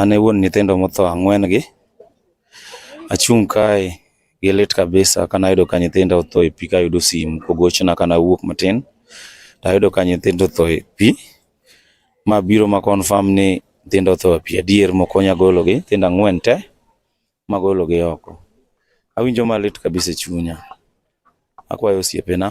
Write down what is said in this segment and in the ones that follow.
An e wuon nyithindo motho ang'wen gi. Achung' kae gi lit kabisa kane ayudo ka nyithinda otho e pi kayudo simu kogochna kane awuok matin. To ayudo ka nyithindo otho e pi. ma biro ma confirm ni nyithindo otho e pi adier mokonya gologi nyithindo ang'wen te magologi oko. Awinjo malit kabisa e chunya. Akwayo osiepena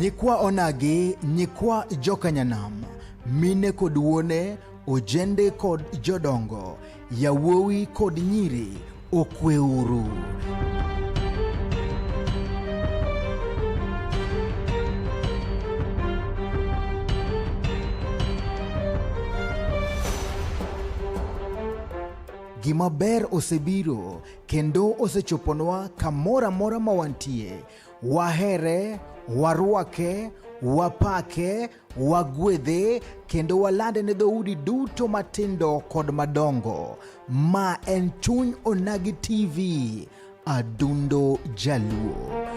Nyikwa Onagi, nyikwa Jokanyanam, mine kod wuone, ojende kod jodongo, yawuowi kod nyiri, okweuru. Gima ber osebiro kendo osechoponwa kamoro amora ma wantie. Wahere, warwake, wapake, wagwedhe, kendo walande ne dhoudi duto matindo kod madongo. Ma en Chuny Onagi TV, Adundo Jaluo.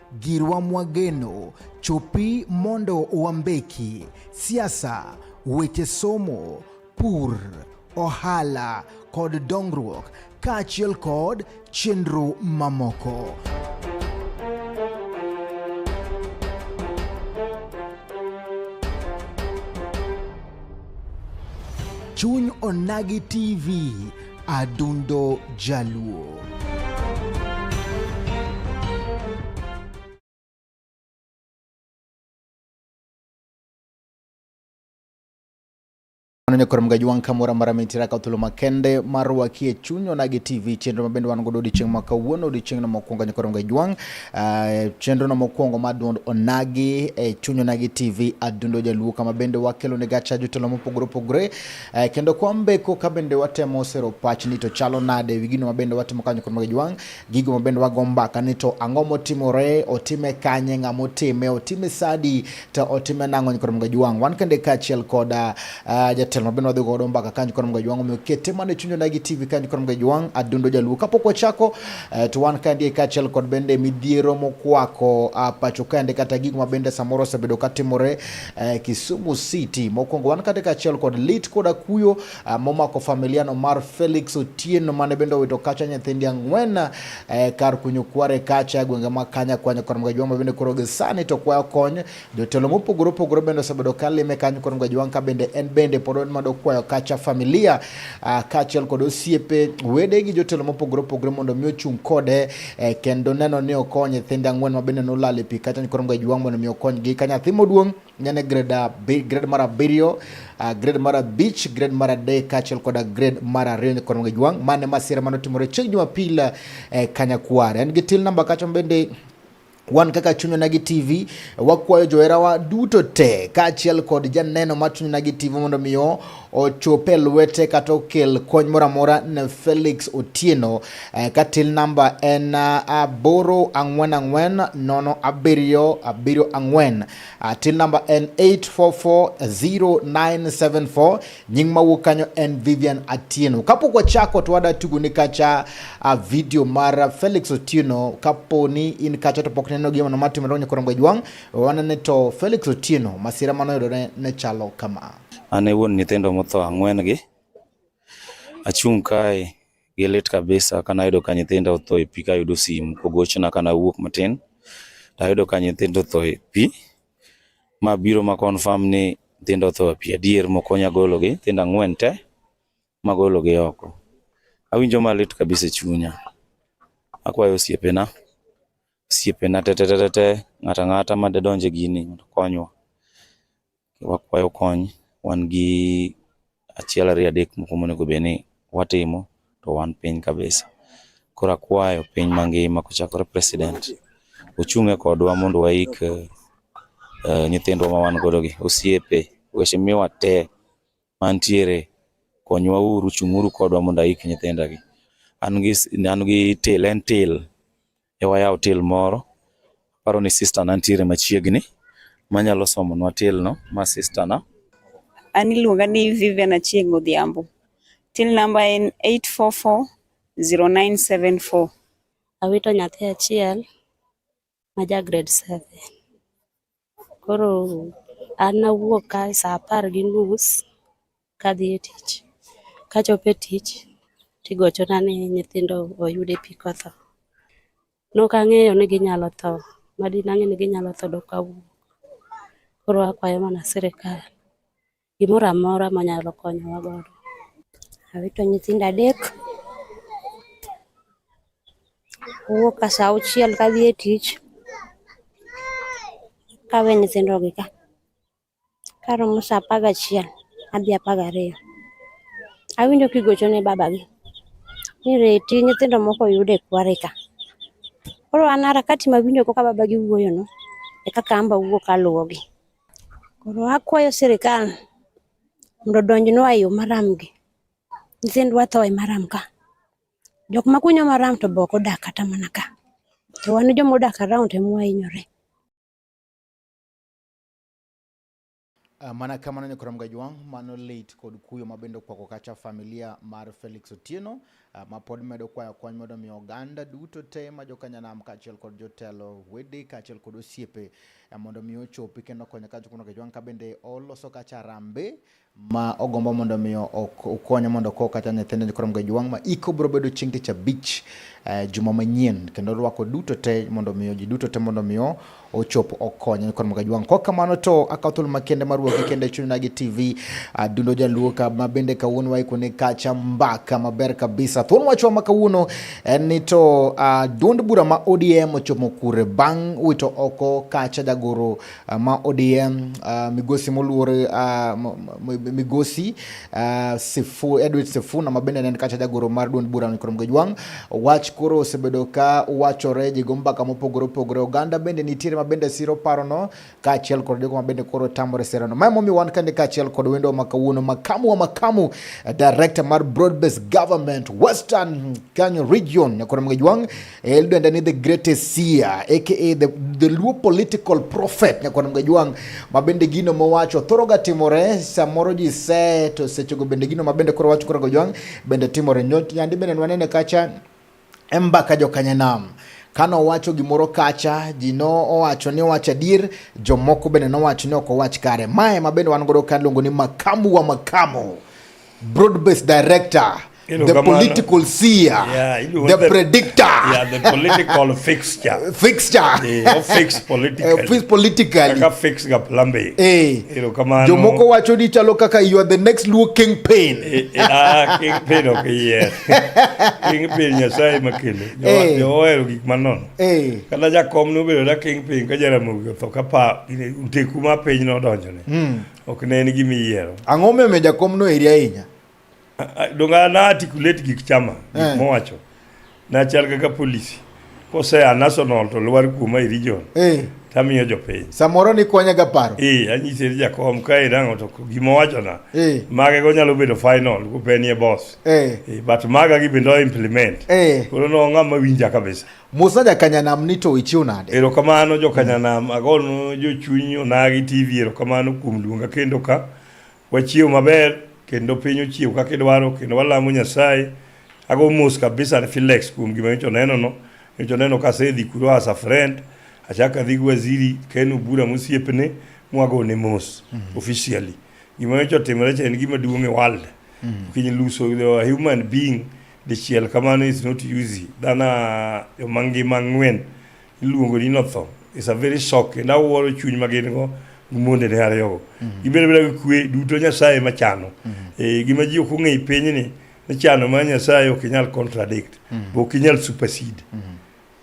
Girwa Mwageno, chopi mondo wambeki, siasa, weche somo, pur, ohala kod dongruok kaachiel kod chenro mamoko. Chuny Onagi TV Adundo Jaluo. ne koro mga jwang kamora mara mitira ka thuolo makende mar wakie chunyo nagi tv chenro mabende wan godo odiochieng' ma kawuono odiochieng'no mokwongo nyakoro mga jwang uh, ah, chenrono mokwongo ma duond onagi e chunyo nagi tv adundo jaluo kama bende wakelo ne gacha jotelo mopogore opogore Eh, kendo kwambe ko ka bende watemo sero pach ni to chalo nade wi gino mabende watimo kanyo kod mage jwang' gigo mabende wago mbaka ni to ang'o motimore otime kanye ng'ama otime otime sadi to otime nang'o kod mage jwang' wan kende kaachiel kod uh, ah, jatelo mabende wadhi godo mbaka kanyo kod mage jwang' omiyo kete mana e chunyona gi tv kanyo kod mage jwang' adundo jaluo kapok wachako uh, to wan kandie kaachiel kod bende midhiero mokwako uh, pacho kende kata gigo mabende samoro osebedo katimore eh, Kisumu City. Mokwongo wan kata kaachiel kod lit koda kuyo eh, momako familiano mar Felix Otieno mane bende owito kacha nyithindi ang'wen eh, kar kunyo kware kacha e gwenge ma Kanya kwanyo kod Mgajwang' ma bende koro gisani to kwayo kony. Jotelo mopogore opogore bende osebedo ka lime kanyo kod Mgajwang' ka bende en bende pod en mado kwayo kacha familia eh, kaachiel kod osiepe wede gi jotelo mopogore opogore mondo mi ochung' kode e, kendo neno ni okony nyithinde ang'wen ma bende nolal e pi kacha koro mga jwang' mondo mi okonygi ka nyathi moduong' nyane grade grade mar abiriyo uh, grade mar abich grade mar adek kaachiel koda grade mar ariyo ni koro mga jwang' mane masira mane otimore chieng' jumapil e, kanyakwar en gi til namba kacha bende Wan kaka Chuny Onagi TV wakwayo joherawa duto te kaachiel kod janeno mar Chuny Onagi TV mondo mi ochope lwete kata okel kony moro amora ne Felix Otieno eh, ka till namba en eh, aboro ang'wen ang'wen nono abiriyo abiriyo ang'wen ah, till namba en 844097 Nying mawuok kanyo en Vivian Atieno. Kapok wachako to wada tugo ni kacha uh, video mar Felix Otieno. Kapo ni in kacha to pok neno gima ma timore nyakoro ngwejwang, wanene to Felix Otieno masira mano yudore ne chalo kama. An e wuon nyithindo motho ang'wen gi. Achung' kae gi lit kabisa kana yudo ka nyithindo otho e pi kayudo simu kogochna kana wuok matin. Tayudo ka nyithindo otho e pi. Ma biro ma confirm ni nyithindo otho e pi adier mokonya gologi, nyithindo ang'wen te magologi oko. Awinjo malit kabisa e chunya. Akwayo osiepena, osiepena te te te te, ng'ato ang'ata ma dedonj e gini mondo okonywa. Wakwayo kony, wan gi achiel ariyo adek moko monego bed ni watimo to wan piny kabisa. Koro akwayo piny mangima kochakore president ochung'e kodwa mondo waik uh, nyithindwa ma wan godo gi osiepe weche miwa te mantiere konywa uru chung'uru kodwa mondo aik nyithinda gi an gi an gi til en til e wayaw til moro. Aparo ni sister na nitiere machiegni manyalo somonwa tilno ma sister na. An iluonga ni Vivian Achieng' Odhiambo. Till number en 8440974. Awito nyathi achiel ma ja grade 7. Koro an nawuok kae sa apar gi nus kadhi e tich. Kachopo e tich tigochona ni nyithindo oyud e pi kotho. Nok ang'eyo ni ginyalo tho, madinang'e ni ginyalo tho dok awuok. Koro akwayo mana sirikal. gimoro amora manyalo konyowa godo. Awito nyithinda adek, awuok ka saa auchiel kadhi e tich kawe nyithindo gi ka karomo saa apar gachiel adhi apar gariyo. Awinjo kigocho ne babagi ni reti nyithindo moko oyud e kwari ka. Koro an harakati mawinjo go ka babagi wuoyo no e kaka an be awuok aluwogi. Koro akwayo sirikal mondo donjnwa e yo maram gi. Nyithindwa tho e maram ka. Jok ma kunyo maram to be ok odak kata mana ka. To wan joma odak around ema wahinyore. Uh, mana kamano ni Koramgajwang' mano lit kod kuyo mabende okwako kacha familia mar Felix Otieno Ah, ma pod medo kwayo kony mondo mi oganda duto te ma jokanyanam kaachiel kod jotelo wede kaachiel kod osiepe ah, mondo mi ochopi kendo konyo ka jokuno kejwan ka bende oloso kacha rambe ma ogombo mondo mi okonye mondo ko kata nyithindo koro mgejwang ma iko bro bedo chieng' tich abich eh, juma manyien kendo rwako duto te mondo mi ji duto te mondo mi ochopo okonyo kod Magajwang'. Kok kamano to akawo thuolo makende mar wuok kende chunyna gi TV Adundo Jaluo ka ma bende kawuono waikone kacha mbaka maber kabisa. Thuolo wachwa ma kawuono en ni to uh, duond bura ma ODM ochomo kure bang' wito oko kacha jagoro uh, ma ODM uh, migosi moluor uh, migosi Uh, sifu Edward Sifuna mabende ne en kacha jagoro mar duond bura ni Kurom Gejwang wach koro osebedo ka wachore ji go mbaka mopogore opogore oganda bende nitiere mabende siro paro no kaachiel kod jogo mabende koro tamore sero no mae momiyo wan kande kaachiel kod wendo ma kawuono makamu wa makamu eh, director mar broad based government western Kenya region Kurom Gejwang Eldwenda ni the greatest seer aka the, the Luo political prophet Nyakwar Mgajwang' ma bende gino mowacho thoroga timore samoro ji se to sechego bende gino ma bende koro wacho koro Gajwang' bende timore nyandi bende nwanene kacha embaka jokanyanam kano owacho gimoro kacha ji no owacho ni owacho adier jomoko bende nowacho ni ok owach kare mae ma bende wan godo ka luongo ni makamu wa makamu broad based director the political seer, yeah, the, the, predictor, yeah, the political fixture, fixture, yeah, eh, fix politically, uh, eh, fix politically, kaka fix ga plambe, eh, ilo kama jo moko wacho ni chalo kaka you are the next Luo king pain, eh, eh, ah, king pain okay, yeah, king pain nyasaye makele, jo eh. jo oero gik manon, eh, kata jakom no bedo da king pain ka jaramogi to kapa nteku ma piny no donjone, mm. ok ne en gima iyiero. Ang'o momiyo jakom no eri ahinya? donga na articulate gik chama gik eh. mowacho nachal kaka policy kosea national to lwar kuoma e region eh. tamiyo jopiny samoro ni konya ga paro eh anyise ni jakom ka irango to gima wacho na eh. mage go nyalo bedo final ku penie boss eh. eh but maga gi bendo implement eh. koro no ngama winja kabisa Musa ja kanyanam ni to ichiu nade ero kamano jo kanyanam mm. agon jo chunyo nagi tv ero kamano kum luonga kendo ka Wachiew maber kendo piny ochiew kaka idwaro kendo walamo Nyasaye. Ago mos kabisa ne Felix kuom gima nyocha oneno no. Nyocha oneno ka asedhi kuro as a friend. Achako adhi gi waziri Ken Obura mosiepne mwago ne mos mm -hmm. officially. Gima nyocha otimore cha en gima duong' e world. Mm -hmm. Kiny luso a human being dichiel kamano is not easy. Dhana yo mangima ng'wen Iluongo ni notho. It's a very shock. And awuoro chuny ma gin go monde ne ariyogo. Mm-hmm. Gibedo beda gi kwe duto Nyasaye ma chano. Mm-hmm. E, gima ji ok ong'e piny ni ni chano ma Nyasaye ok inyal contradict. Mm-hmm. Ok inyal supersede.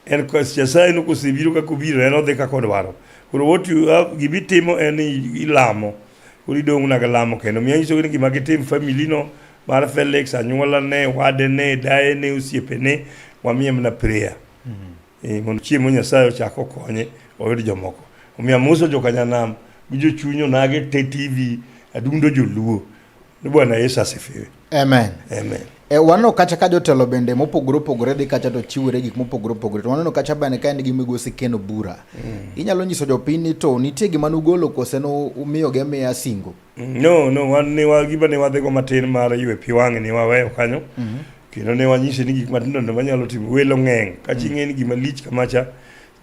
En kos Nyasaye no kosebiro kaka obiro en odhi kaka odwaro. Koro what you have gibitimo en ilamo. Koro idong' naga lamo kendo. Miya nyiso ni gima gitim family no mar Felix, anyuola ne, wade ne, daye ne, osiepe ne, wamiye mana prayer. e, mondo chiemo Nyasaye ochak okonye oyud jomoko. Omiyo amoso jokanyanam gi jochunyo nage te TV adundo joluo ni Bwana Yesu asifiwe. Amen. Amen. E, waneno kacha ka jotelo bende mopogore opogore dhi kacha to chiwore gik mopogore opogore to waneno kacha bende ka en gi migosi keno bura mm. inyalo nyiso jopiny ni to nitie gima nugolo kose umiyogi amiya singo No, no, wan ne wa gima ne wadhigo matin mar ywe pi wang'e ne waweyo kanyo. Mhm. Kendo ne wanyise ni gik matindo tindo manyalo timo welo ng'eng'. Ka chi ng'e ni gima lich kamacha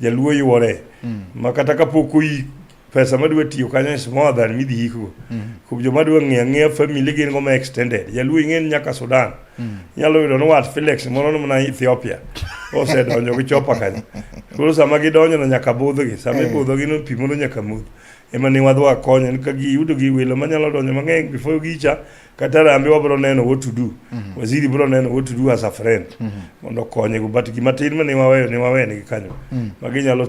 jaluo yuore. Mm. Ma kata kapok oyik pesa madwa tiyo kanyo is more than midhi yikgo. Mm. Kuom joma dwa ng'eyo ang'eya family gin go ma extended. Jaluo ing'e ni nyaka Sudan. Mm. Nyalo yudo ni wat Felix moro ni mana Ethiopia. Osedonjo gi chopa kanyo. Koro sama gidonjo no nyaka budhgi. Sama Eh. ibudhogi no pi modho nyaka modh. ema ne wadhi wakonyo ni ka giyudo gi welo manyalo donjo mang'eny before gicha kata rambe wabiro neno what to do mhm. waziri biro neno what to do as a friend mhm. mondo okonye go but gima tin ma ne waweyo ne wawenegi kanyo mhm. ma ginyalo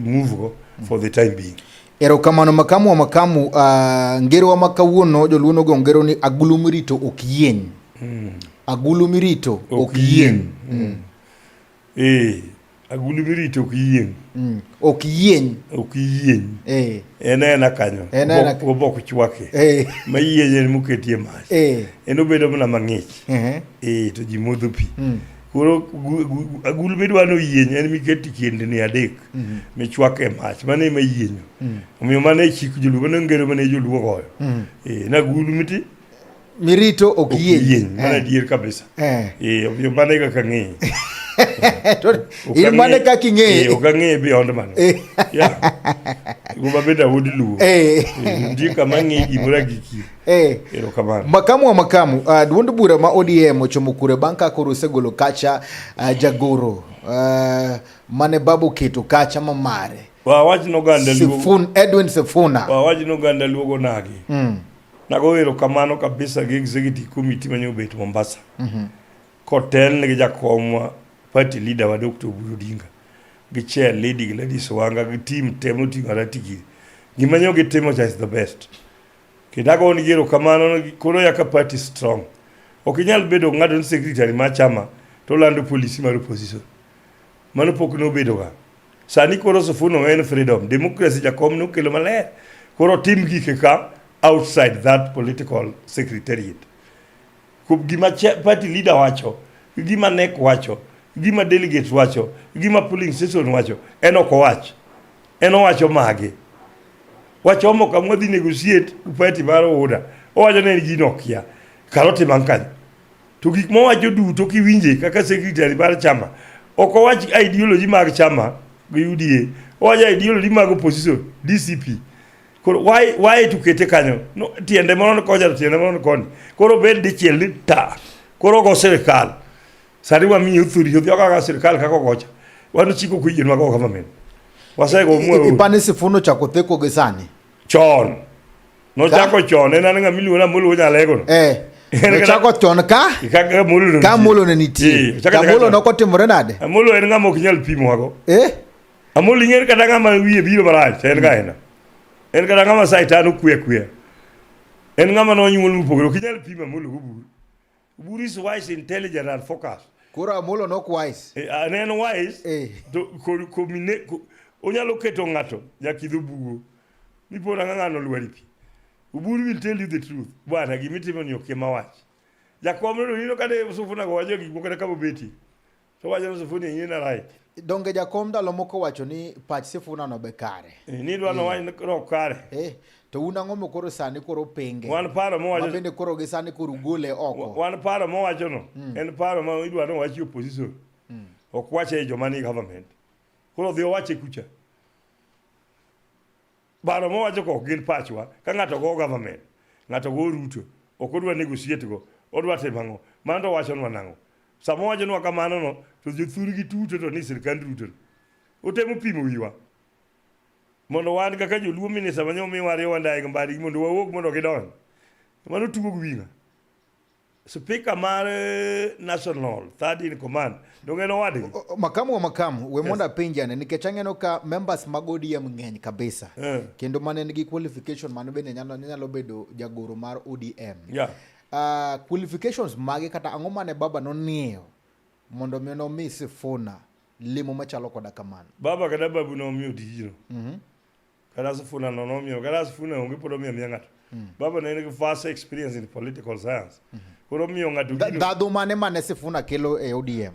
move go for the time being erokamano makamu wa makamu uh, ah, ngerowa ma kawuono joluono go ngero ni agulu mirito ok yieny mm. agulu mirito ok yieny mm. mm. Ee, agulu mirito ok yieng'. Mm. Ok yieny. Ok yieny. Ee. En ena kanyo. En ena. Obok chwake. Ee. Ma yieny en moketie mach. Ee. En obedo mana mang'ich. Ee. Ee, to ji modho pi. Mm. Koro agulu midwa ni oyieny en miket e kindni adek mm-hmm. michwak e mach mano ema yienyo mm. omiyo mano e chik joluo mano ngero mane joluo goyo mm. eh, na agulu miti mirito ok yieny mana eh. adier kabisa eh. eh, omiyo mano e kaka ang'eye in mane kaka ing'eye ok ang'eye beyond mano guma bende awod luwo nitie kama ang'eye gimoro agiki erokamano makamu wa makamu uh, duond bura ma odm ochomo kure bang' ka koro osegolo kacha uh, jagoro uh, mane baba oketo kacha ma mare wawach noganda Sifun, Edwin Sifuna wawach noganda luogo nagi mm. Nagoyo erokamano kabisa gi executive committee manye obet Mombasa. Mm -hmm. Kotelne gi jakomwa party leader wa Dr. Oburu Odinga gi chair lady Gladys Wanga gi team temo tingo ratigi. Gima nyo gitimo cha is the best. Kidago ni gero kamano koro yaka party strong. Ok inyal bedo ng'ado ni secretary ma chama to lando policy mar opposition. Mano pok nobedoga. Sani koro Sufuno en freedom. Democracy Jakom nokelo maler. Koro tim gike ka outside that political secretariat. Kup gima party leader wacho, gima NEC wacho, gima delegates wacho, gima polling station wacho, en ok owach. En owacho mage. Wachomo kamwa dhi negotiate upati mar order. Owacho ni en gino okia. Kalo timan kanyo. To gik mowacho duto kiwinje kaka secretary mar chama ok owach ideology mag chama gi UDA, owacho ideology mag opposition DCP. Koro why why to kete kanyo? No, tiende moro ni kocha tiende moro ni koni. Koro bed dichiel ni ta. Koro go sirkal. Sari wa mi uthuri yothi kaka sirkal kaka gocha. Wanu chiko kuyien mago government. Wasego mwe. Ipane sifuno cha kotheko gisani. Chon. Nochako chon en an ng'ama iluongo ni Amolo Wuod Nyalegono. Eh. Nochako chon ka ka Amolo ne ka Amolo ne nitie. Ka Amolo ne okotimore nade? Amolo en ng'ama ok nyal pimwago. Eh. Amolo ing'er kata ng'ama wiye biro marach en ka en. En kata ng'ama saitan okwe kwe. En ng'ama nonyuol mopogore ok inyal pimo Amolo go buru. Who is wise, intelligent, and focused? Koro Amolo nok wise. Eh, an en wise. Eh. To ko ko mine ko onyalo keto ng'ato jakidho bugo. Mipo na ng'ano lwari pi. Uburu will tell you the truth. Bwana gimitimo ni okema wach. Jakom no nino kade usufuna go wajo gik moko kata kabo beti. to wacho ni sifuni inyi ne right donge jakom ndalo moko wacho ni pach sifuna no be kare Eh, ni dwa no wany no kare eh, to un ang'o ma koro sani koro penge wan paro ma mowacho bende koro gi sani koro gole oko wan paro ma wacho no en paro ma idwa no wachi opposition ok wache e joma ni government koro dhi owache kucha Baro mowacho kok gin pachwa ka ng'ato go government, ng'ato go Ruto, ok odwa negotiate go, odwa timo ang'o? Mano to wachonwa nang'o? Sama wachonwa kamano no to jothurgi tuto to ni sirkand Ruto. Otemo pimo wiwa. Mondo wan kaka joluo minisa manyo miwa riwa ndai gi mbari mondo wawuog mondo gidonj. Mano tugo gi winga. Spika mar eh, National Third in Command dongeno wadgi makamu wa makamu we mondo apenjane nikech ang'eno ka members mag ODM ng'eny kabisa Eh. kendo mane nigi qualification mano bende nyalo nyalo bedo jagoro mar ODM Yeah. Ah, qualifications mage kata ang'o mane baba nong'eyo mondo mi nomi Sifuna limo machalo koda kamano baba kata babu nomiyo tijno Kata Sifuna no nomiyo, kata Sifuna onge pod omiyo miya ng'ato. Mm. Baba ne en gi vast experience in political science. Mm -hmm. Koro omiyo ng'ato gino. Ndhadhu mane mane Sifuna kelo e ODM?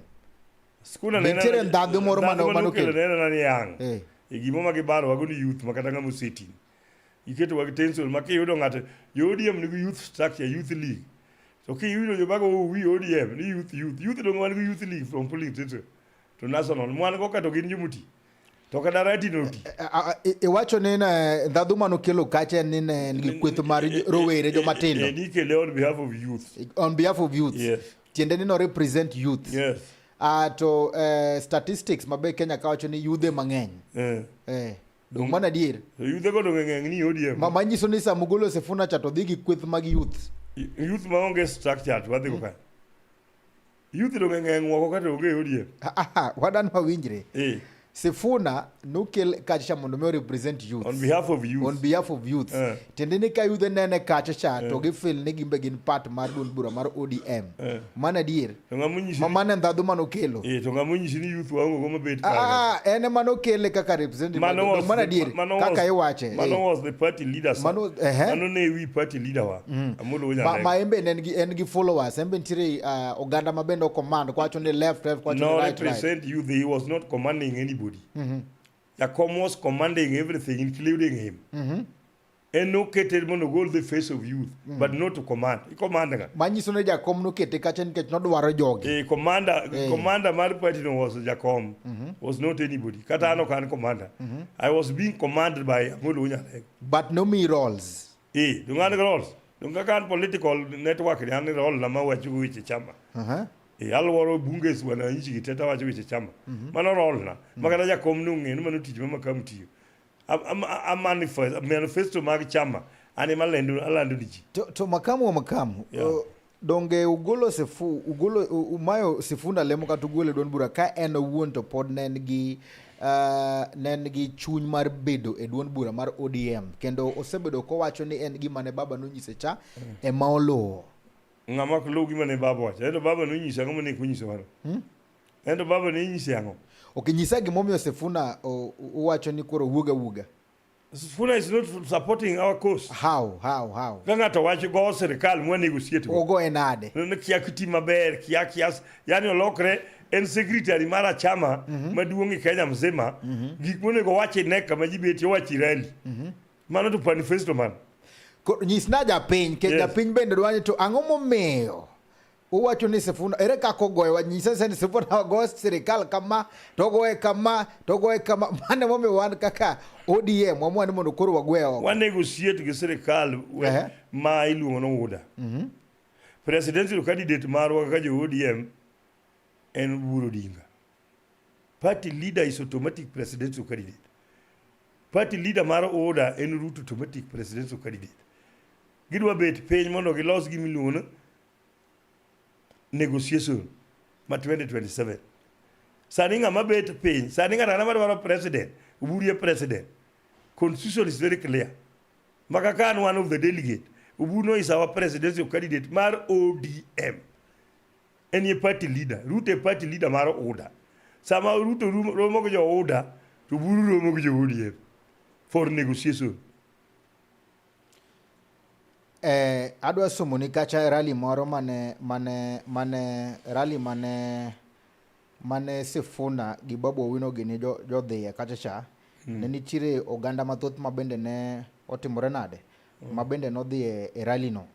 Sifuna ne nitiere ndhadhu moro mane mano kelo. Ne nena ni yang. Eh. E gimo ma gibaro wago ni youth makata ng'ama oseti. Iketo wag tension ma kiyudo ng'ato jo ODM nigi youth structure, youth league. To kiyudo jo bago oh, wi ODM ni youth youth. Youth dongo wan gi youth league from polling tension to national. Mwan go kato gin jomuti. To kada rati no ti. Iwacho ni ne ndhadhu mano kelo kacha ni ne en gi kweth mar rowere joma tindo. Ni kele on behalf of youth. On behalf of youth. Yes. Tiende ni no represent youth. Yes. Uh, to uh, statistics mabe Kenya kawacho ni yudhe mang'eny. Eh. Eh. Dong mana dier. Yudhe go dong ng'eny ni ODM. Mama nyiso ni sa mugolo sefuna cha to dhi gi kweth mag youth. Youth ma onge structure to wadhi go mm. ka. Youth to ng'eng' woko kata onge e ODM. Wadan wawinjre. Eh. Sifuna nukel kacha mondo mi represent youth. On behalf of youth. On behalf of youth. Uh. Eh. Tende ni ka youth nene kacha cha uh. to eh. gi feel ni gimbe gin part mar duond bura mar ODM. Uh. Eh. Mana dier. To ngamunyi ma mane ndadhu mano kelo. Eh to ngamunyi ni youth wango go mabet ah, ka. Ah, ah, ene mano kele kaka represent mano was, mana dier. Mano kaka iwache. Mano was the party leader. Mano eh. Mano ne we party leader wa. Mm. Ma, ma embe ne gi en gi followers embe nitire uh, oganda ma bende command kwacho ni left left kwacho no, ni right represent right. you he was not commanding anybody mm -hmm. Jakom was commanding everything including him mm -hmm. en nokete mondo ogol the face of youth mm. but not to command i command nga manyiso ne jakom nokete kacha nikech nodwaro jogi e commander e. commander mar party no was jakom mm -hmm. was not anybody kata mm -hmm. ano kan commander mm -hmm. i was being commanded by amolo nyalego but no me roles i dungani rol dunga kan political network ni an rol na ma wacho weche chama Aha. e alworo bunge wana nchi kiteta wacho weche chama mano rol na makata jakom ni ong'e ni mano tich ma makamu tiyo Am- am- am- manifest- manifesto mag chama an ema lendo alando ni ji To, to makamu wa makamu Yeah. o, Donge ugolo sifu ugolo umayo sifuna lemo kata ugole duond bura ka en owuon to pod ne en gi uh, ne en gi chuny mar bedo e duond bura mar ODM kendo osebedo kowacho ni en gima ne baba nonyise cha mm. ema oluwo. Ng'ama ok luw gima ne baba wacho. Ento baba nonyise ang'o mane konyiso waro? Hmm? Ento baba ne nyise ang'o? Ok nyisa gimomiyo Sifuna uwacho ni koro wuoga wuoga. Sifuna is not supporting our cause. How, how, how? Ka ng'ato wacho go sirkal mwa negotiate go. Ogo en ade. Ne kia kiti maber, kia kias, yani olokre en secretary mar achama mm -hmm. maduong' e Kenya mzima mm -hmm. gik monego wache ne kama ji betie wachi rally. Mm -hmm. Mano to manifesto man. Nyisna japiny, ke yes. japiny bende dwani to ang'o momiyo uwacho ni Sifuna ere kako goyo wanyise se ni Sifuna wagoyo sirikal kama to goye kama to goye kama mane momi wan kaka ODM wamwa ni mondo koro wagwe oko wa negotiate gi sirikal uh-huh. ma iluongo no wuda mm -hmm. presidential candidate marwa kaka jo ODM en Oburu Odinga party leader is automatic presidential candidate party leader mar UDA en Ruto automatic presidential candidate gidwa bet piny mondo gilos gimiluongo negotiation ma 2027 sani ng'ama bet piny sani ng'ato ang'ata madwaro president uburie president constitution is very clear maka kan one of the delegate ubuno is our presidential candidate mar odm en ye party leader ruto e party leader mar uda sama ruto rum- romo gi jo uda to buru romo gi jo odm for negotiation Eh, adwa somoni kacha rali moro mane mane mane rali mane mane Sifuna gi Babu Owino gini jodhiye kacha cha mm. ne nitiere oganda mathoth ma bende ne otimore nade mm. ma bende nodhiye e rali no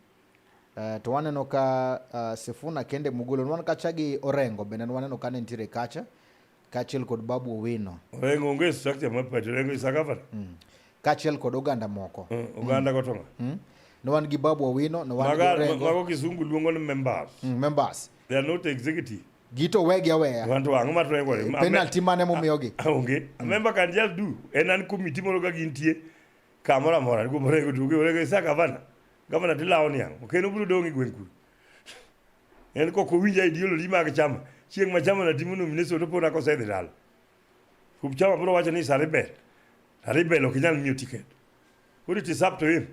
eh, to waneno ka uh, Sifuna kende mugolo nwan kacha gi Orengo bende nwaneno ka ne nitiere kacha kaachiel kod Babu Owino Orengo onge structure mar party, Orengo is a governor. kaachiel kod oganda moko Eh, Oganda go to ng'a? Mm. ne wan gi Babu Owino ne wan gi Maga- Orengo Mago kisungu luongo ni members. mm, members They are not executive. gito wegi aweya Wanto ang'o ma Orengo wacho? Ma- penalty mane momiyogi Ah, onge. A member can just do. En an committee moro ka gintie kamoro amora. Kuom Orengo tuge, Orengo is a governor. Governor tilawo ni ang'o? Ok en obiro dong' e gweng' kuno. En kok owinja ideology mag chama. Chieng' ma chama na timo nomination to pod akosedhi dala. Kup chama bro wacho ni is a rebel. A rebel ok inyal miyo ticket. Koro it is up to him.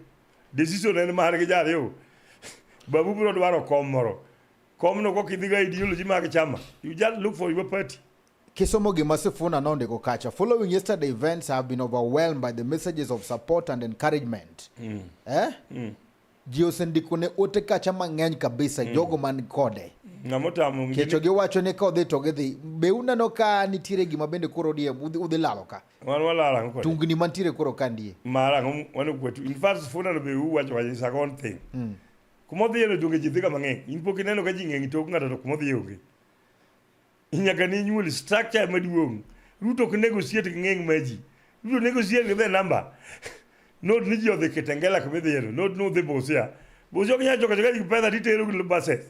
Decision en mar gi jariyo. Babu bro dwaro kom moro. Kom no kok idhiga ideology mag chama. You just look for your party. Kisomo gima Sifuna nondiko kacha, following yesterday events I have been overwhelmed by the messages of support and encouragement. Eh? ji osendikone ote kacha mang'eny kabisa mm. jogo man kode kecho giwacho ni ka odhi to gidhi be uneno ka nitiere gima bende koro die udhi lalo ka tungni mantiere koro ka ndie mm. kuma odhiye no donge ji dhiga mang'eny in pok ineno ka ji ng'eny tok ng'ato to kuma odhiye onge Nyaka ne inyuol structure maduong'. Ruto ok negotiate gi ng'eng ma ji. Ruto negotiate gi the number. Not ni ji odhi Kitengela kuma idhi yiero. Not ni udhi Busia. Busia ok nyal choko choka ji pesa titero gi buses.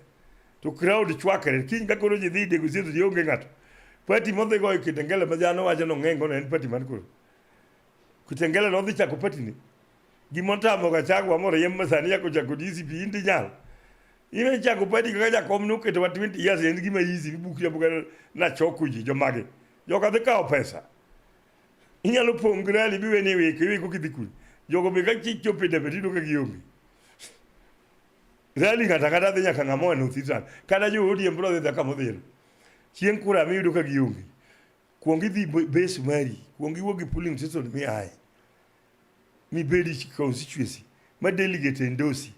To crowd chwakre. Kiny ka koro ji dhi negotiate ji onge ng'ato. Party modhi goyo Kitengela ma dhano wacho ni ong'eng' ono en party man koro. Kitengela nodhi chako party ni. Gima otamo Gachagua moriemb ma sani chako chako DCP in to inyalo. In ichako padi kaka jakom noketo wa 20 years en gima easy ibuki abuka na choko ji jomage. Joka dhi kawo pesa. Inyalo pong' gi rally biwe ni weke weko kidhi kuli. Jogo be ka chich chopo e debe tido ka gionge. Rally kata kata dhi nyaka ng'ama oa North Eastern. Kata jo ODM bro dhi dhi kama odhiero. Chieng' kura miyudo ka gionge. Kuong idhi be- base mari. Kuong iwuog gi polling station miaye. mibedi constituency ma delegate endosi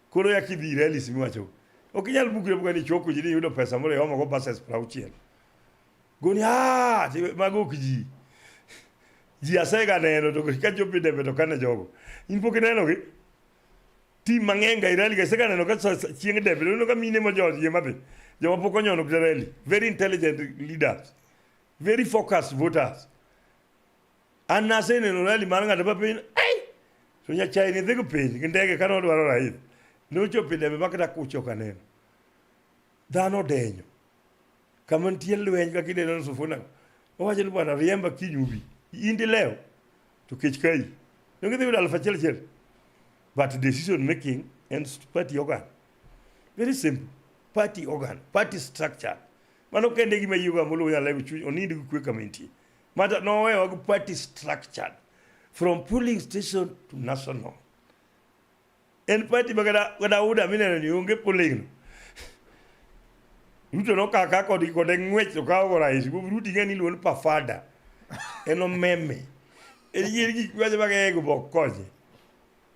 koro ya kidhi rallies miwacho ok inyal bukre buka ni choko ji ni yudo pesa moro yomo go passes prauchiel goni ah mago ok ji ji asega neno to ka jopi debe to kane jogo in pok ineno gi tim mang'eny ga irali ga sega neno ka chieng debe neno ka mine ma jo ye madhi joma pok onyono rally very intelligent leaders very focused voters Anase ne nolali mar ng'ato pa piny. Ai! To nyachae ni dhi piny gi ndege ka nodwaro raidh. Ne ochopo e debe ma kata kucho ka neno. Dhano odenyo. Kama nitie lweny kaka ineno ni sufuna. Owacho ni bwana riemba kiny ubi. In dilew to kech kayi. Ne gidhi yudo aluf achiel achiel. But decision making and party organ. Very simple. Party organ, party structure. Mano kende gima yiego amolo nyalo lego chuny onindi gi kwe kama intie. Mata nowe wago party structured from polling station to national. En party ma kada kada uda mineno ni onge polling no. Ruto no kaka kod kod ngwech to kawo go rais. Go Ruto ngani luon pa fada. En omeme. En yiri gik ma jamaga ego bokoje.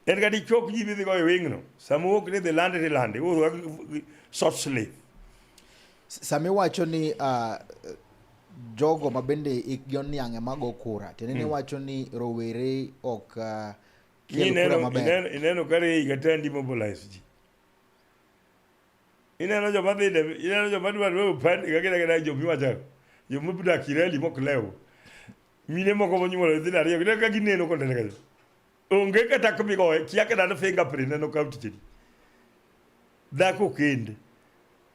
En ka dichok ji midhi goyo wing'no, sama wuok ni dhi lande to ilande, iwuothoga gi short sleeve. Sama iwacho ni uh, jogo ma bende ikgi oniang' ema go kura, tiende ni hmm. iwacho ni rowere ok uh, kel kura maber. Ineno ka rei kata ndi mobilize ji. Ineno joma dhi ineno joma dwa dwa upande ka kida kida joma iwacho joma budak ireli mok lew. Mine moko monyuolo dhi ariyo, kida ka gineno konde kanyo. Onge kata kumigoye, kia kata ni fingerprint ne nokaw ticheni. Dhako kende,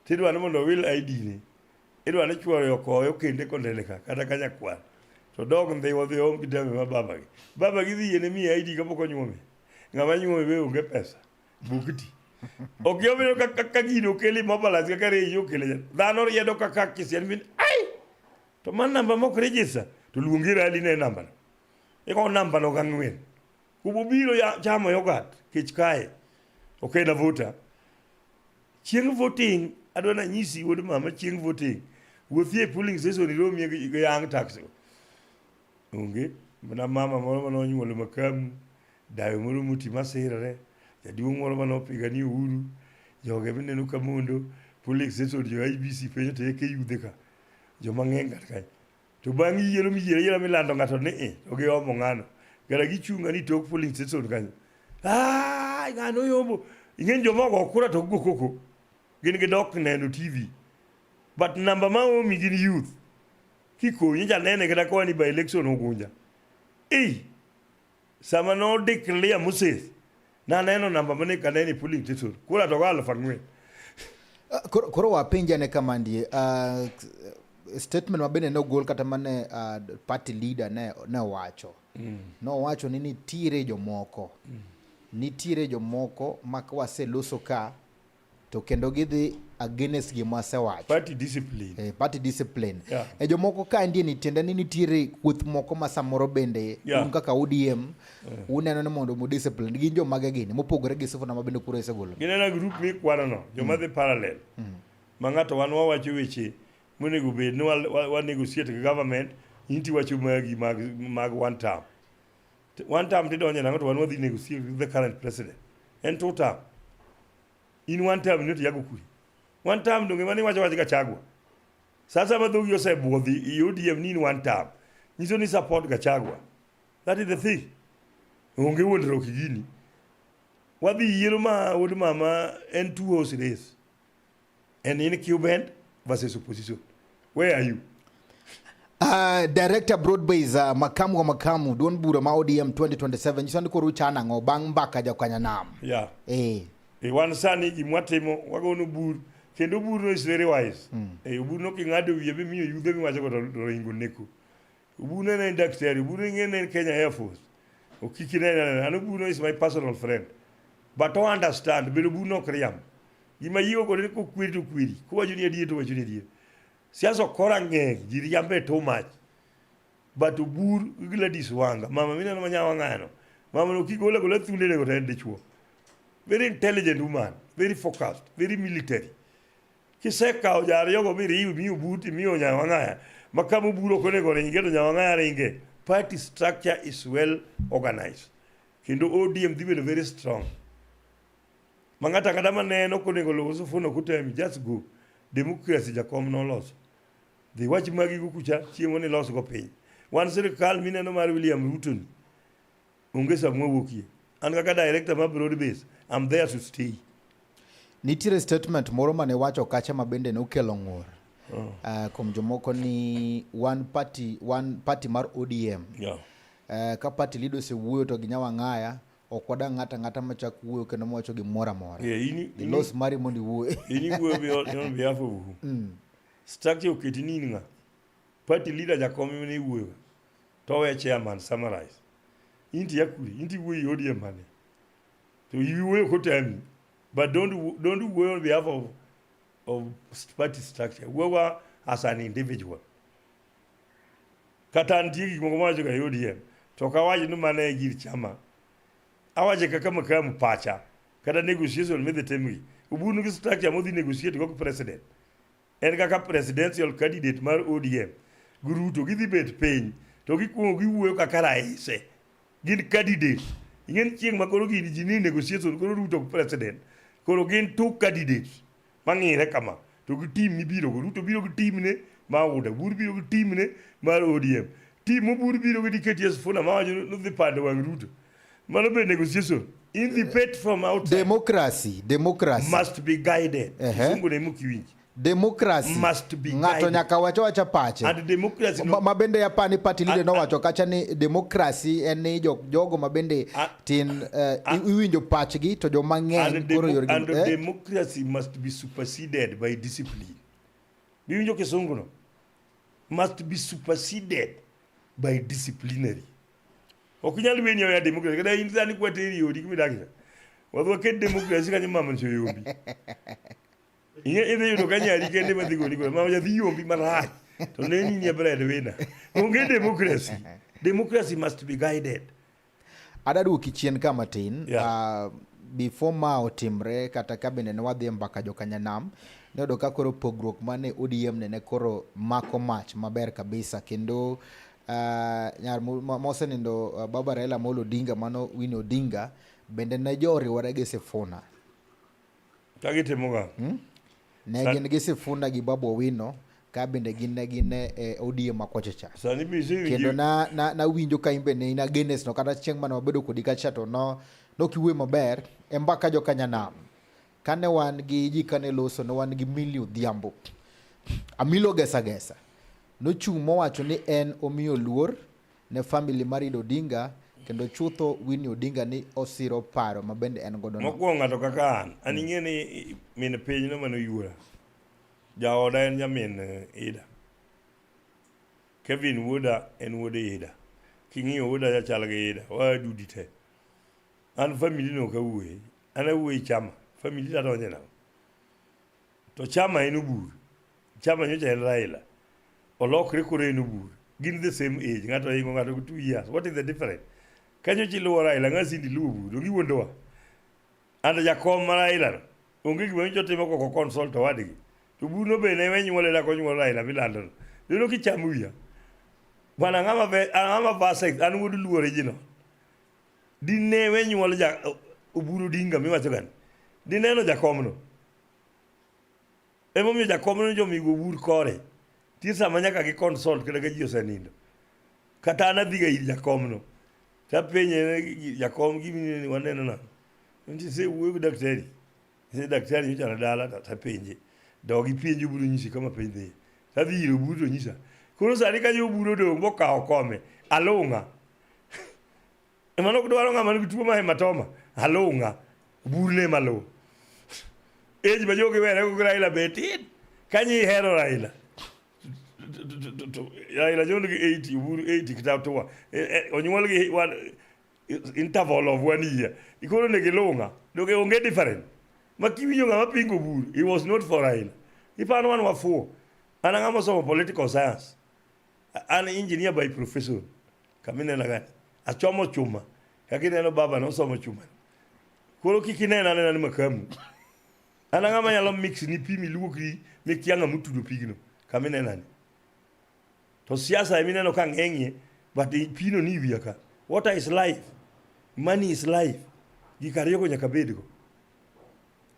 tidwa ni mondo owil ID ne, idwa ni chuore okoye okende kondene ka, kata ka nyakwar. To dog ndhiwa dhiwa onge dame ma babagi. Babagi dhi yiene miye ID kapok onyuome. Ng'ama nyuome be onge pesa, bukti. Ok yomino ka, ka, ka gino okeli mobalance kaka reji okele. Dhano riedo kaka kisian min, ai! To man namba mok register, to luongi rali ne namba no. Ikawo namba no gang'wen. Kububiro ya chamo yogat kech kae. Okay na vota. Chieng' voting adwa na nyisi wuod mama chieng' voting. Wuothi e polling station iromi e gi- gi young tax. Onge. Mana mama moro mane onyuolo makamu. Dayo moro moti masirre. Jaduong' moro mane opigani uhuru. Joge mineno ka mondo. Polling station jo IBC penjo to eke yudhe ka. Joma ng'eny kar kae. To bang' yiero miyiero ayiera milando ng'ato ni i to giomo ng'ano kata gichunga ni tok polling station kanyo ai ng'ano yombo ing'eny joma ogo kura to gigo koko gin gidok neno tv but namba ma omi gin youth kikonyi janene kata kawani by election ogunja ei sama no declare Moses na neno namba mane kaneni puli tisu kula to galo fangwe ah, koro koro wapenja ne kama ndie uh, statement mabende ne ogol kata mane uh, party leader ne ne owacho mm. nowacho ni nitiere jomoko mm. nitiere jomoko ma waseloso ka to kendo gidhi against gima asewacho party discipline eh, party discipline yeah. e jomoko ka ndie ni tiende ni nitiere kuoth moko ma samoro bende yeah. un kaka ODM yeah. uneno ni mondo mu discipline gin joma ge gini mopogore gi sifuna ma bende kuro isegolo ginena group mi kwano no joma mm. dhi parallel mm. ma ng'ato wan wawacho weche monego bed ni wa, wa, wa negotiate gi government inti wacho magi mag, mag one term One time tidonje nango to wan wadhi negotiate with the current president. En two time. In one time nyo tiyago kuri. One time donge mani wacho wacho Gachagua. Sasa madhogi osebwodhi i ODM ni in one time. Nyiso ni support Gachagua. That is the thing. Onge wuondruok gini. Wadhi yiero ma wuod mama en two horse race. And in Cuban versus opposition, where are you? Uh, director Broadbase uh, makamu wa makamu duond bura ma ODM 2027 nyiso ni koro uchano ang'o bang' mbaka jakanya nam yeah. eh. E wan sani gimwatimo wagono bur kendo burno is very wise mm. e burno king'ado wiye mimiyo yudhe miwacho go to ringo neko Ubuna na daktari, Ubuna ngene Kenya Air Force. Okiki na na anu Ubuna is my personal friend. But to understand, bedo Ubuna ok riam. Gima yiwo kod ni kokwiri to kwiri. Kowacho ni adier to wacho ni adier. Siasa ok kora ng'eny, ji riambe too much. But Ubur Gladys Wanga, mama mine na manyawa ng'ano. Mama no kigola gola thunde ne go tende chuo. Very intelligent woman, very focused, very military. Kisekawo jariyogo miriwi mi obuti mi onyawang'aya ma kama oburo ok onego ringe to nyawang'aya ringe. Party structure is well organized kendo ODM dhi bedo very strong. Ma ng'ato ang'ata ma neno ok onego luw Sifuna ok otemi just go. Democracy jakom noloso. Dhi wach magigo kucha chieng' ni losgo piny. Wan sirkal mineno mar William Ruto ni Onge sa mwawuokie. An kaka director ma Broad Base, I'm there to stay. Nitiere statement moro mane wacho kacha ma bende nokelo ng'ur. Oh. Uh, kuom jomoko ni one party, one party mar ODM. Yeah. Uh, ka party leader osewuoyo to ginya wang'aya ok wadang' ng'ata ng'ata machak wuoyo kendo mawacho gimoro amora. Yeah, ini, ini, los mari mondo iwuoye. Ini wuoyo on behalf of who? Mm. Structure oketi ni in ng'a? Party leader jakom mene iwuoyo. to we chairman summarize inti yakuli inti wuoyi odie mane to iwuoyo kotami but don't wo- don't wuoyo on behalf of of st- party structure wuowa as an individual kata nitie gik moko mawacho ga odm to ok awach ni mane e gir chama awache kaka makamu pacha kata negotiation midhi timgi ubunu gi structure modhi negotiate go gi president En kaka presidential candidate mar ODM gi Ruto gidhi bet piny to gikuongo giwuoyo kaka raise gin candidate ing'eni chieng' ma koro gini ji ni negotiation koro Ruto president koro gin two candidate mang'ire kama to gi team mibiro go Ruto biro gi team ne ma Uda Bur biro gi team ne mar ODM team mobur biro gi DKTS Funa ma wacho ni dhi pando wang' Ruto Mano be negotiation. In the pet from outside. Democracy, democracy. Must be guided. Uh -huh. Sungu ne mukiwinji. Democracy. Must be guided. Ngato nyaka wacho wacha pache. And democracy no. Ma bende yapa ni party leader no wacho kacha ni democracy en ni jog, jogo ma bende tin uh, iwinjo pachgi to jo mang'eny koro yor And eh? democracy must be superseded by discipline. Miwinjo kisungu no. Must be superseded by disciplinary. Ok nyal weni oya demokrasi. Kada in sani kwa teri yodi kimi dakisa. Wadwa ke demokrasi kanyo mama ncho yombi. Inge ide yudo kanyo ari kende madhi goni kwa. Mama jathi yombi malach. To ne ni ni bread wina. Onge demokrasi. Demokrasi must be guided. Ada duoki chien ka matin. Yeah. Uh, before ma otimre kata kabende ne wadhi mbaka jokanyanam ne yudo ka koro pogruok mane ODM ne ne koro mako mach maber kabisa kendo Uh, nyar mosenindo uh, baba Raila Amolo Odinga mano Winnie Odinga bende ne jo oriwore gi Sifuna. Ka gitimo ga? Hmm? Ne Sa gin gi Sifuna gi Babu Owino ka bende gin ne gin e eh, ODM ma kocha cha. Sani mi sing kendo na na na winjo ka imbe ne ina genes no kata chieng' mane wabedo kodi kacha to no no kiwe maber e mbaka jo kanya nam. Kane wan gi ji kane loso ne wan gi Milly Odhiambo. Amilo Gesa Gesa nochung' mowacho ni en omiyo luor ne famili mar Ido Odinga kendo chutho Winnie Odinga ni osiro paro ma bende en godo. Mokwongo ng'ato kaka an, an mm. ing'e ni min piny no mane oyuora. Jaoda en nyamin eh, Ida. Kevin wuoda en wuod Ida. King'iyo wuoda chachal gi Ida, wadudi te. An famili no kawuoye An awuoyi chama, famili to adonje nang'o? To chama en obur. Chama nyocha en Raila. Olokre koro en obur. Gin the same age. Ng'ato ohingo ng'ato gi two years. What is the difference? Kanyo chiluwo Raila, ng'a sindi luwo obur. Donge iwuondowa? And jakom ma Raila no. Onge gima nyocha otimo koko consult owadgi. To obur no be ne we nyuole da konyuol Raila milando no. Dino kichamo wiya. Bana ng'ama ve, ng'ama verse, an wuod luo original. dine we nyuol ja oburu dinga miwacho gani dineno jakomno emomiyo jakomno jomigo obur kore tie sama nyaka gi consult kata ka ji osenindo kata an adhiga ir jakomno tapenye jakom gimini waneno na nti se wuoyo gi daktari se daktari nyocha na dala tapenje dogi penje oburu nyisi kama penj dhiye tadhi ir oburu to nyisa koro sani ka jo oburu odong' mokawo kome alung'a Mano ok dwaro ng'ama nigi tuo ma hematoma. Alung'a. Burne malo. Age ma jogi were go Raila be tin. Kanyi hero Raila. Raila jondo gi 80, Uhuru 80 kata towa. E, e, onyuol gi one interval of one year. Ikoro ne gilunga. Doge onge different. Ma kiwinjo ng'ama pingo buru, he was not for Raila. Ipano wan wafuo. An ang'ama somo political science. An engineer by profession. Kaminena gani? Achomo chuma. Kakineno baba no somo chuma. Koro kik inena nena ni makamu. An ang'a ma nyalo mix ni pi miluoki mikia ng'a motudo pigno. Kaminena ni. To siasa emineno ka ng'eng'ie but pino ni wiya ka. Water is life. Money is life. Gik ariyogo nyaka bedgo.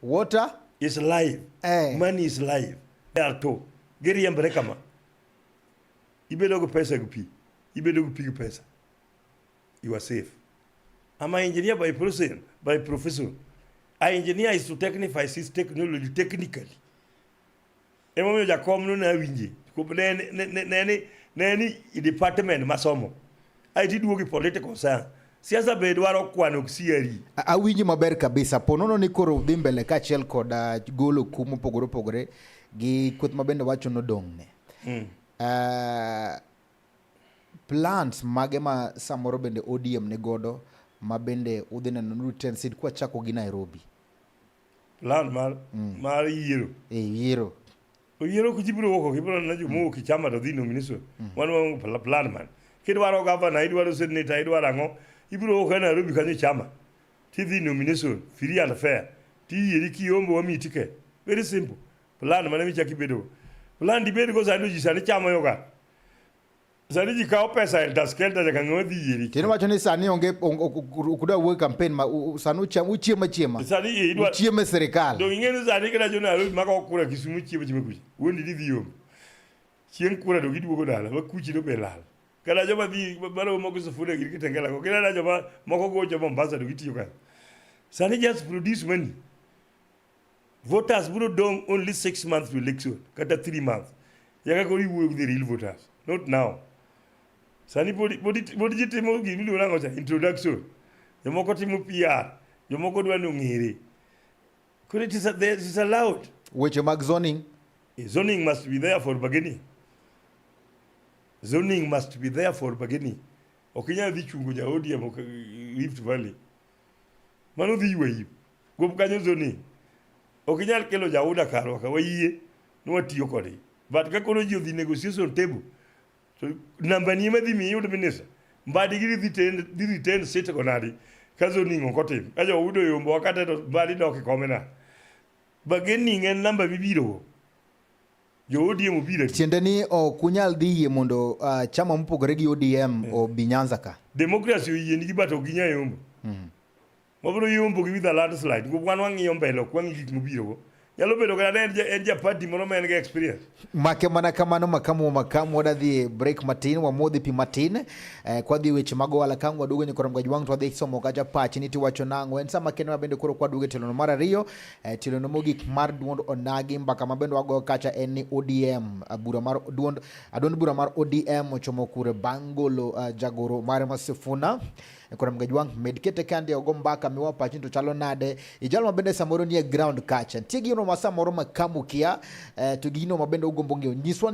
Water is life. Eh. Money is life. There are two. Giriembore kama. ibedo gi pesa gi pi ibedo gi pi gi pesa you are safe I'm an engineer by profession by profession I engineer is to technify this technology technically emomiyo jakom no ne awinje ne ni department masomo Aiti duogi political science. Siasa be dwaro kwano sieri. Awinji maber kabisa. Ponono ni koro dhi mbele kaachiel kod ah, golo kum mopogore opogore gi kweth ma bende wacho nodong' ne. Mm. Uh, plans mage ma samoro bende ODM ni godo ma bende udhi neno ni Tensid kwa chako gi Nairobi. Plan mar mm. mar yiero. E yiero. oyien ok ji biro wuok ibiro na jomowuok ichama to dhi nominiswa mm. wan wa plan man kidwaro gavana idwaro seneta idwaro ang'o ibiro wuok e nairobi kanyo ichama tidhi nomination free and fair tiyieri kiombo wamiyi ticket very simple plan mane michaki bedogo plan dibedgo sani ji sani chamo yoga Sani ji kawo pesa elda skelda nyaka ng'ama dhi yieri. Kendo wacho ni sani onge ukuda wuoyo campaign ma sani ucham uchiema chiema. Sani idwa uchiema serikal. Dong ing'e ni sani kila jona alo maka okura Kisumu chiema chiema kuchi. Wuondi dhi yom. Chieng' kura to giduogo dala ma kuchi to be lal. Kala joma dhi baro moko sufuna gir kitengela ko. Kila joma moko gocho Mombasa to gitiyo kanyo. Sani just produce money. voters bro dong only six months to election kata three months yaka koro iwuoyo the real voters not now sani pod ji timo gima iluongo nango cha introduction jomoko timo pr jomoko dwa nong'ere koro it is allowed weche mag zoning eh, zoning must be there for beginning zoning must be there for beginning ok inyal dhi chungo ja odm rift valley mano dhi yweyo Kuom kanyiso ni ok inyal kelo jauda karwa ka wayie ni watiyo kodgi but ka koro ji odhi negotiation table to namba ni madhi mi iyud minisa mbadi gi dhi tend dhi retain sit go nadi ka zoning ok otim ka jo udo yombo wakate to mbadi dok e kome na bargaining en namba mibiro go jo ODM obiro tiende ni ok unyal dhi yie mondo uh, chama mopogore gi ODM yeah. obi Nyanza ka demokrasi oyienigi but ok ginya yombo mm. Wabiro yombo gi with a landslide. Go wan wang'iyo mbele ok wang'i gik mobirogo. Nyalo bedo kata en en ja party moro ma en gi experience. Make mana kamano makamu makamu wadadhi break matin wamodhi pi matin eh, kwadhi weche mag ohala kang waduogo nyakoro mgaj wang' to wadhi somo kacha pachi ni tiwacho nang'o en sama kendo mabende koro kwaduogo e tilono mar ariyo eh, tilono mogik mar duond onagi mbaka mabende wago kacha en ni ODM eh, bura mar duond aduond bura mar ODM ochomo kure bang' golo uh, jagoro mare Masifuna. Sifuna E kora mga jwang, med kete kande ogo mbaka miwa pachin to chalo nade. Ijalo mabende samoro nie ground kacha. Tie gino ma samoro makamu kia, eh, to gino mabende ugombo ng'eyo. Nyiswa ni